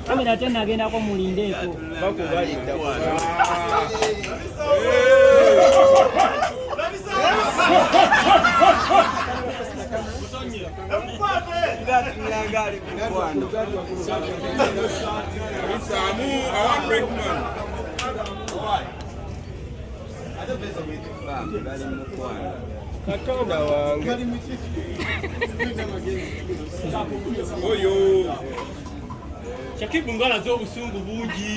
kamera tena agendako mulindeeko Samu, I want break man. katonda wange oyo shakibu ngala z'obusungu bungi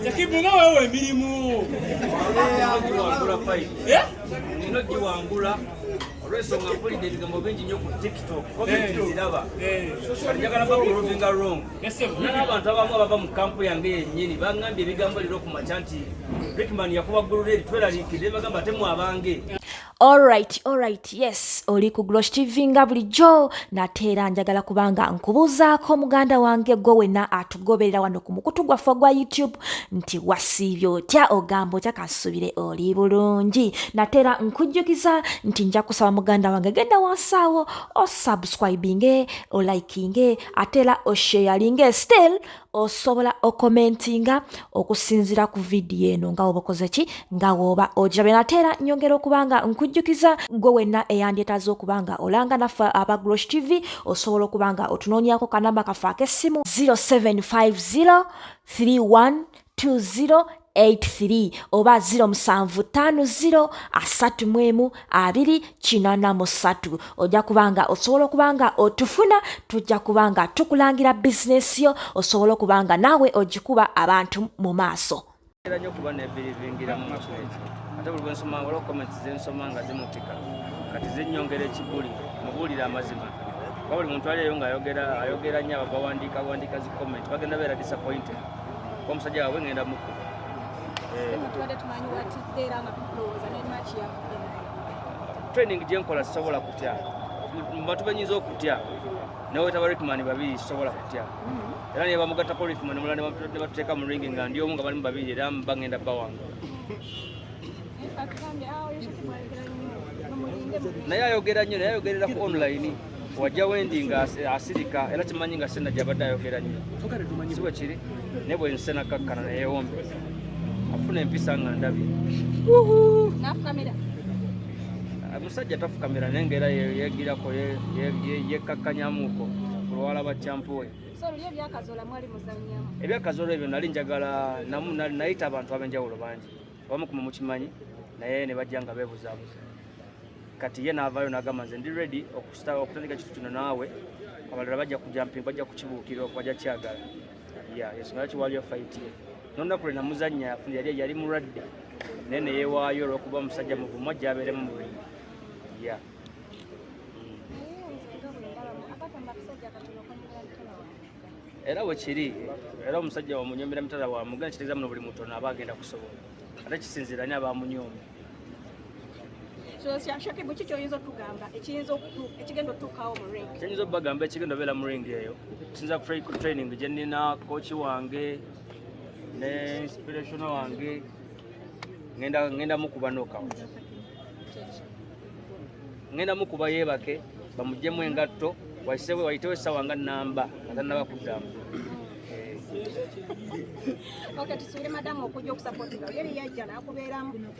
shakibu nga wewe emirimu ino giwangula olwensonga mpulidde ebigambo bingi nnyo ku tiktok komentiziraba njagala bakulovinga wrong nana abantu abamu abava mu kampu yange yennyini bangambye ebigambo liro ku makya nti rickman yakuba ggulula eri tweraliikirire bagamba ate mwabange Alright, alright, yes, oli ku Glosh TV nga bulijjo nateera njagala kubanga nkubuuzaako muganda wange gwe wenna atu goberera wano ku mukutu gwaffe ogwa youtube nti wasiibye otya ogamba otya kasubire oli bulungi natera nkujjukiza nti nja kusaba muganda wange genda wansaawo osubscribinge olikinge atera osheyalinge still osobola okomentinga okusinzira ku vidiyo eno nga obakoze ki nga wooba ogirabye nate era nyongera okuba nga nkujjukiza gwe wenna eyandyetaaza okuba nga olanga naffe aba grosh tv osobola okuba nga otunoonyako kanamba kaffe ak'essimu 0750 31 20 83 oba 07503123 ojja kubanga osobola okubanga otufuna tujja kubanga tukulangira bizinesi yo osobola okubanga naawe ogikuba abantu mu maaso era nyo kuba nebirivingira mu maka ekyo ate buli bwensoma waliwo comments zensoma nga zimupika kati zinyongera ekibuli mubuulire amazima kuba buli muntu aliyo nga ayogera ayogera nyo abo bawandiika bawandiika zi comment bagenda beera disappointed kuba omusajja wabwe ngenda muku training gyenkola sisobola kutya mubantu benyinza okutya nawe wetaba ritman babiri sisobola kutya era naye bamugattako olifuma ne mulala ne batuteeka mu ringi nga ndi omu nga balimu babiri era bagenda bawanga naye ayogera nnyo naye ayogerera ku online wajja wendi nga asirika era kimanyi nga sena gyabadde ayogera nnyo si bwe kiri naye bwe nsena kakkana neyewombe afuna empisa nga ndabi Omusajja tafukamira naye ngaera yegirako yekkakkanyamuuko olwala bakyampuwe ebyakazola ebyo nali njagala namu nayita abantu ab'enjawulo bangi abamu kuma mukimanyi naye ne bajja nga beebuzaabuza kati ye naavaayo nagamba nze ndi redi okutandika kitu kino naawe abalala bajja kujamping bajja kukibuukira okubajja kyagala ya ensonga yakiwaliyo fayitiye nonakule namuzanya afuna yali yali mulwadde naye neyewaayo olwokuba omusajja muvumu ajja abeeremu mubiri ya era wekiri era omusajja wamunyomera mitala wamuga nekiteeza muno buli mutono aba agenda kusobola ate kisinziira ni abamunyoomi shake bwe kiki oyinza otugamba ekiyinza ekigenda otuukawo mu ring kiyinza okubagamba ekigenda obeera mu ring eyo kisinza ku training gye nnina kooki wange ne inspiration wange ngenda mukuba nokawo ngenda mukuba yeebake bamuggyemu engatto waisebwe wayitewo essaawa nga nnamba nga tannaba kuddamu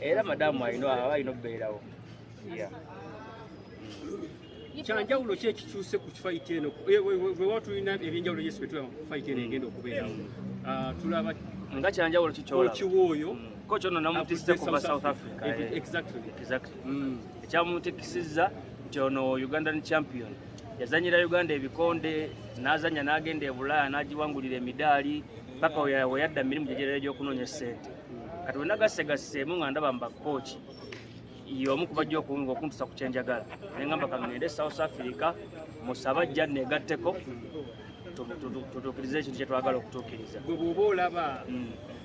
era madamu alina aba alina okubeerawo kyanjawulo ki ekikyuse ku kifayiti eno wewa tulina ebyenjawulo yesu betulaba ku fayiti eno egenda okubeerawo ah, tulaba nga kyanjawulo kikyola okiwa oyo mm. Kocha ono namutisse kuva South Africa. Eh. Exactly. Exactly. Mm. Ekyamutikisizza nti ono Ugandan champion yazanyira Uganda ebikonde n'azanya n'agenda e Bulaaya n'agiwangulira emidaali paka we yadda mirimu gyegerera gy'okunoonya ssente kati we nagassegasseemu nga ndaba mba kooki y'omu ku bajja okunga okuntusa ku kyenjagala ne ngamba kangende South Africa musaba jja negatteko tutuukirize ekintu kyetwagala okutuukiriza gwe bwoba olaba mm.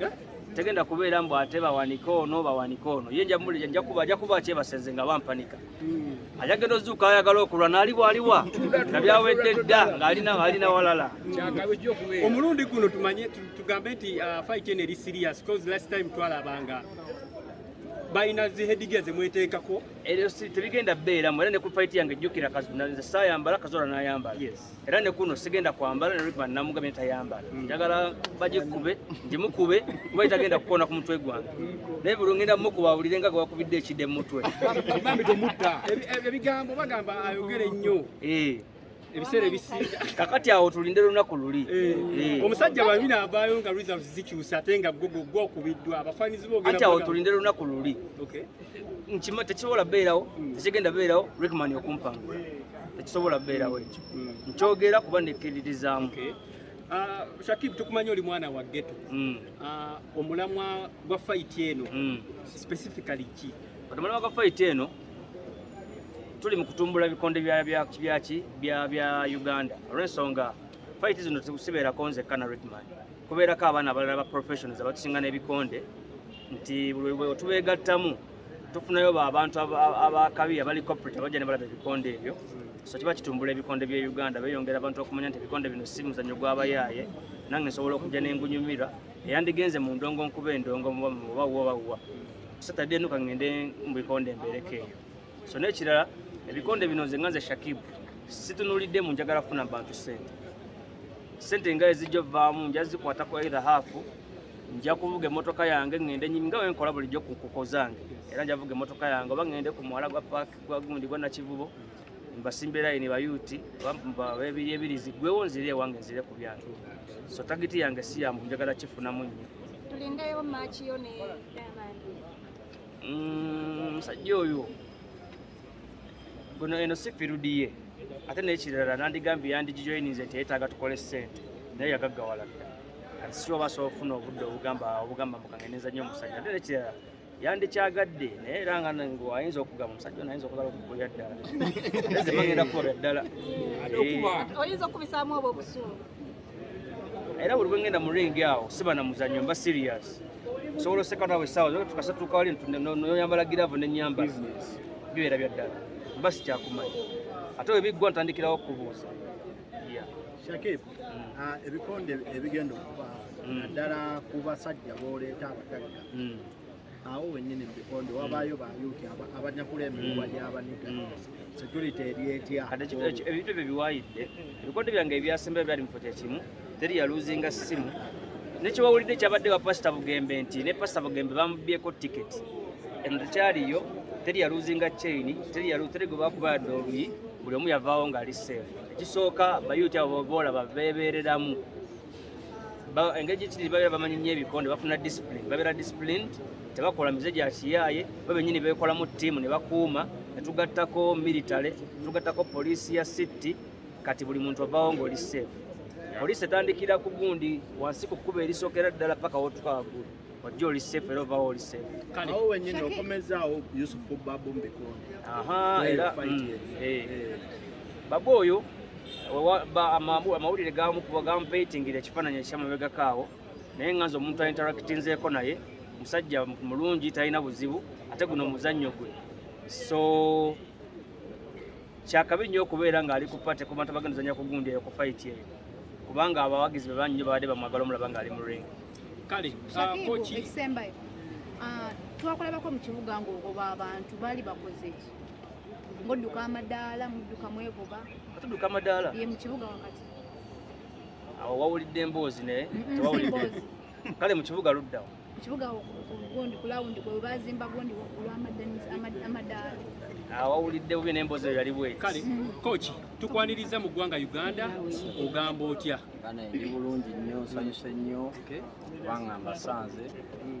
eh? tegenda kubeera mbu ate bawanike ono bawanike ono ye njamuwulira njakuba ajja kuba kyebasenze nga bampanika hmm. ajagenda ozuuka ayagala okulwa naali bwaliwa nga byawedde dda ng'alina walala omulundi guno tumanye tugambe nti uh, fight eno eri serious cause last time twalabanga balina zihediga zemweteekako eryo tebigenda beeramu era ne ku fight yange jjukira nze saayambala kazola n'ayambala era ne kuno sigenda kwambala ne Rickman namugambye tayambala mm. njagala baje kube njimukube kuba itagenda kukona ku mutwe gwange naye buli ngenda mukuba awulire nga gwakubidde ekide mu mutwe bambi temutta ebigambo bagamba ayogere nnyo eh. ebiseera ebisinga kakati awo tulinde lunaku luli eh. Eh. omusajja bamina avaayo nga reserves zikyusa ate nga gwokubiddwa abafaanizi boogera ati awo tulinde lunaku luli nkima tekisobola beerawo hmm. tekigenda beerawo rickman okumpanga tekisobola beerawo ekyo hmm. nkyogera kuba nekkiririzaamu Ah, Shakib tukumanyi oli mwana wa ghetto. Mm. Uh, omulamwa gwa fight eno mm. specifically ki? Omulamwa gwa fight eno tuli mu kutumbula bikonde bya bya bya bya bya Uganda. Olwensonga fight zino zikusibeera konze kana Redman. Kubeerako abaana abalala ba professionals abatusinga n'ebikonde nti buli bwe tubeegattamu tufunayo abantu abakabi abali corporate abajja ne balaba ebikonde ebyo so kiba kitumbula ebikonde bya uganda beyongera abantu okumanya nti ebikonde bino si muzannyo gw'abayaaye nange nsobola okujja nengunyumira eyandigenze mu ndongo nkuba endongo oba wobawa satadde enuka ngende mu bikonde embeereko eyo so n'ekirala ebikonde bino nze nga nze shakibu situnulidde mu njagala kufuna bantu sente sente nga ezijja ovaamu njazikwatako either haafu nja kuvuga emmotoka yange ŋŋende nnyimi nga wenkola bulijjo ku nkuko zange era nja kuvuga emmotoka yange oba ŋŋende ku muwala gwa paaki gwa gundi gwa nakivubo mbasimbe layini bayuuti babiri ebirizi gwewo nzire ewange nzire ku byange so tagiti yange si yambu njagala kifunamu nnyo tulindeyo maakiyo ne mm, musajja oyo guno eno si firudiye ate nekirala nandigambye yandigijoyininze nti yetaaga tukole sente naye yagaggawala dda kati si oba asobola okufuna obudde obugamba obugamba mukangeneza nnyo omusajja ate nekirala yandikyagadde naye era nga ayinza okugamba omusajja ono ayinza okugala okukulira ddala ezemagenda kukolera ddala oyinza okubisaamu obwo obusuulu era buli bwengenda mu ringi awo siba na muzanyo mba serious sobola oseka nawe sawa zoka tukasa tuka wali noyambala giravu nenyamba bibeera bya ddala mba sikyakumanyi ate webiggwa ntandikirawo okubuuza shakib mm. ah, ebikonde ebigenda okubaawo mm. naddala ku basajja booleeta abagagga mm. awo wenyini mubikondo mm. wabaayo bayuti abanyakula emiwuwa mm. gyabaniga mm. security eryetya ebintu ebyo biwayidde ebikondo byange ebyasemba ebyali mufo kyekimu teri yaluzinga simu nekyewawulidde kyabadde wa pasita bugembe nti ne pasita bugembe bamubyeko tiketi eno tekyaliyo teri yaluzinga chain teri yalu teri gwe bakuba yadde oluyi buli omu yavaawo ng'ali seefu ekisooka bayuti abo boolaba beebeereramu engeri gyekiri babeera bamanyi nnyo ebikonde bafuna discipline babeera disciplined tebakola mize gya kiyaaye bo benyini beekolamu ttiimu ne bakuuma ne tugattako military tugattako poliisi ya city kati buli muntu avawo ng'oli safe poliisi etandikira ku gundi wansi ku kkuba erisookera ddala paka wotuka waggulu ojja oli safe era ovawo oli safe awo wenyini okomezaawo yusufu babu mbikonde era mm, eh. eh. babu oyo amawulire gamukuba gamupeyitingira ekifaananyi ekyamabegako awo naye nga nze omuntu ainteractinzeeko naye musajja mulungi talina buzibu ate guno muzannyo gwe so kyakabi nnyo okubeera ng'ali ku pate ku bantu abagenda ozanya kugundi eyo ku fayiti eyo kubanga abawagizi be bannyo babadde bamwagala omulaba ng'ali mu ringi kale ah, ekisembayo ah, twakulabako mu kibuga ng'ogoba abantu baali bakoze ki Mudduka amadaala, mudduka mwegoba. Tudduka amadaala? Ye mu kibuga wakati. Awo wawulidde emboozi naye? Tewawulidde. Kale mu kibuga luddawo. Mu kibuga gundi ku lawundi kwe baazimba gundi olw'amadaala. Awo wawulidde bubi n'emboozi eyo yali bweti. Kale kooki mm. tukwaniriza mu ggwanga Uganda ogamba otya? Bana ndi bulungi nnyo nsanyuse nnyo kubanga mbasanze. Mm.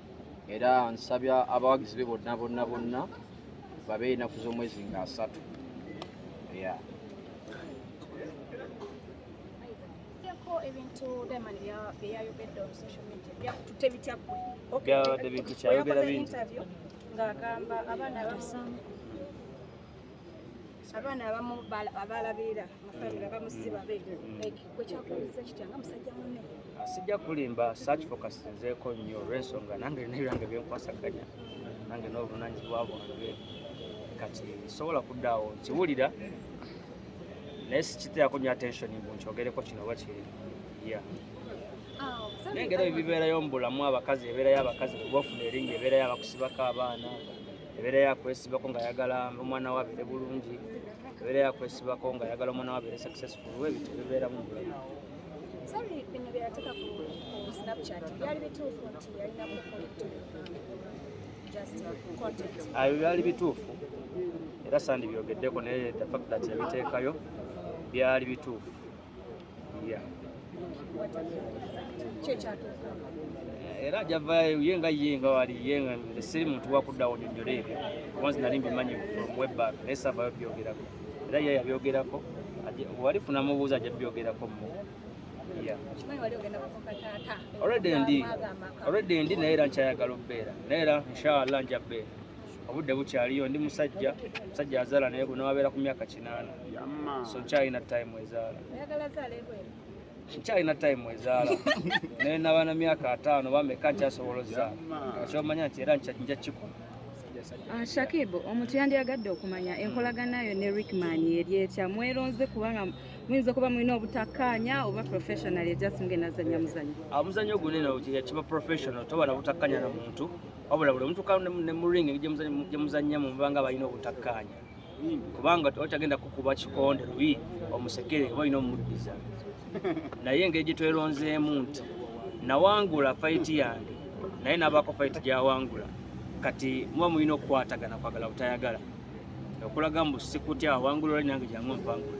era nsabya abawagizi be bonna bonna bonna babe enaku z'omwezi nga asatu ya ebintu Diamond byeyayogedde on social media byakutute bitya gwe byabadde bintu kyayogera bingi ng'agamba abaana abaana abamu abalabirira mufamire abamu si babe kwekyakuwuliza kitya nga musajja munne ah, sijja kulimba search focus nzeeko nnyo olwensonga nange lina ebyange byenkwasaganya nange n'obuvunanyizibwa bwange kati sobola kuddaawo nkiwulira naye sikiteako nyo attention mbu nkyogereko kino oba kiri ya ah, nengera ebibeerayo mu bulamu abakazi ebeerayo abakazi kubafuna eringa ebeerayo abakusibako abaana ebeera yakwesibako nga ayagala omwana we abeere bulungi ebeera yakwesibako nga ayagala omwana we abeere successful we ebintu bibeeramu mubulamu ayo byali bituufu era sandi byogeddeko naye the fact that yabiteekayo byali bituufu era javayo ye nga ye nga wali ye nga nze siri muntu wakuddawo nyonyola ebyo obanzi nali mbimanyi from webback naye savayo byogerako era ye yabyogerako wali funa mubuuza ajja byogerako mu already ndi already ndi naye era nkyayagala okubeera naye era inshallah nja beera obudde bukyaliyo ndi musajja musajja azaala naye gwe nawabeera ku myaka kinaana so nkyalina time ezaala nkyalina time ezaala naye nabaana myaka ataano bameka nkyasobola ozaala kyomanya nti era nja kikola ah, shakib omuntu yandiyagadde okumanya enkolaganayo ne rickman eri etya mweronze kubanga muyinza okuba mulina obutakkaanya oba professional just ng'enazanya muzanyo ah, omuzanyo gunene kiba professional toba na butakkaanya na muntu wabula buli omutuka ne mu ring gye muzannya mu mubanga balina obutakkaanya kubanga otagenda kukuba kikonde luyi omusekere oba olina omuddiza naye engeri gye tweronzeemu nti nawangula fayiti yange naye nabaako fayiti gyawangula kati muba mulina okukwatagana kwagala butayagala okulaga mbu sikutya awangula oli nange jangu mpangula